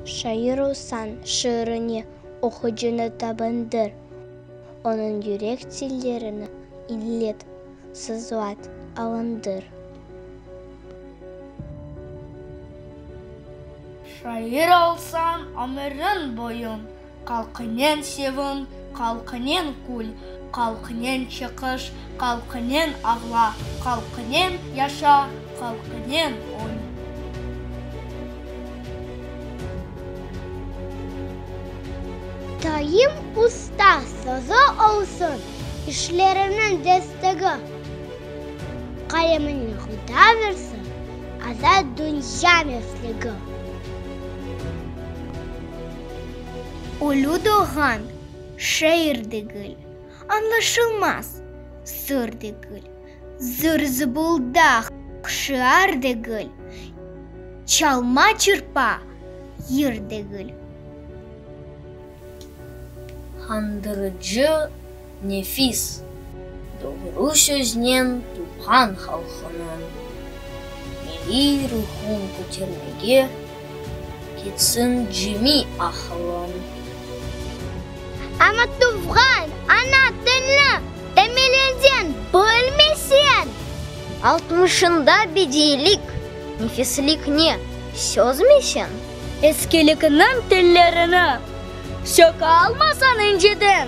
Şair olsañ, şiirini oqucını tabındır, onıñ yürek tellerini iñlet, sızlat, alındır. Şair olsañ, ömüriñ boyu Qalqınen sevin, qalqınen kül, Qalqınen çıqış, qalqınen ağla, Qalqınen yaşa, qalqınen öl. Dayım usta sazı olsun, İşleriniñ destegi, Qalemine Huda versin, Azat dünya meslegi. Ölü doğan şeir degil, añlaşılmaz sır degil, zır-zıbıldaq şiar degil, çalma-çırpa yır degil. Andırıcı. nefis. Doğru söznen tuvğan halqınıñ milliy ruhun kötermege ketsin cemi aqılıñ. Amma tuvğan ana tilni temelinden bilmeseñ. Altmışında bediylik, nefislikni sözmeseñ. Eskilikniñ tellerini söke almasañ inceden.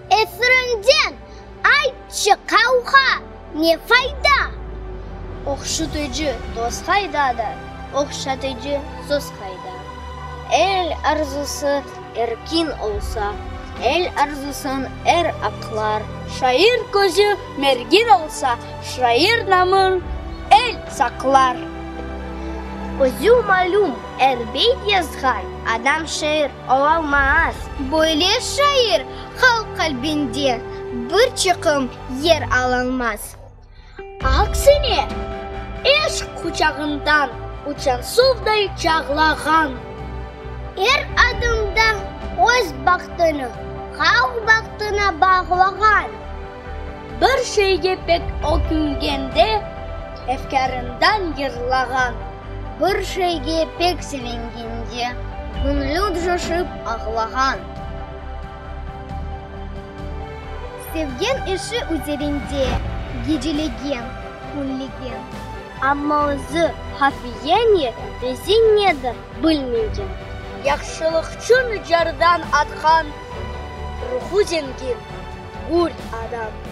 Efirinden aytçı qavğa ne fayda? Oqşutıcı toz qayda da, oqşatıcı söz qayda? El arzusı erkin olsa, el arzusın er aqlar. Şair közü mergin olsa, şair namın el saqlar. Özü malüm, er beyt yazğan adam şair. Olamaz! Böyle şair halq qalbinde bir çıqım yer alalmaz. Aksine, eşq quçağından uçan suvday çağlağan. Er adımda öz bahtını halq bahtına bağlağan. Bir şeyge pek öküngende efkârından yırlağan. Bir şeyge pek sevingende, küñlüñ coşıp ağlağan. Sevgen işi üzerinde gecelegen, küllegen. Amma özü hafiye ne, bizi nedir, bilmegen. Yahşılıqçın cardan atqan ruhu zengin, gür adam.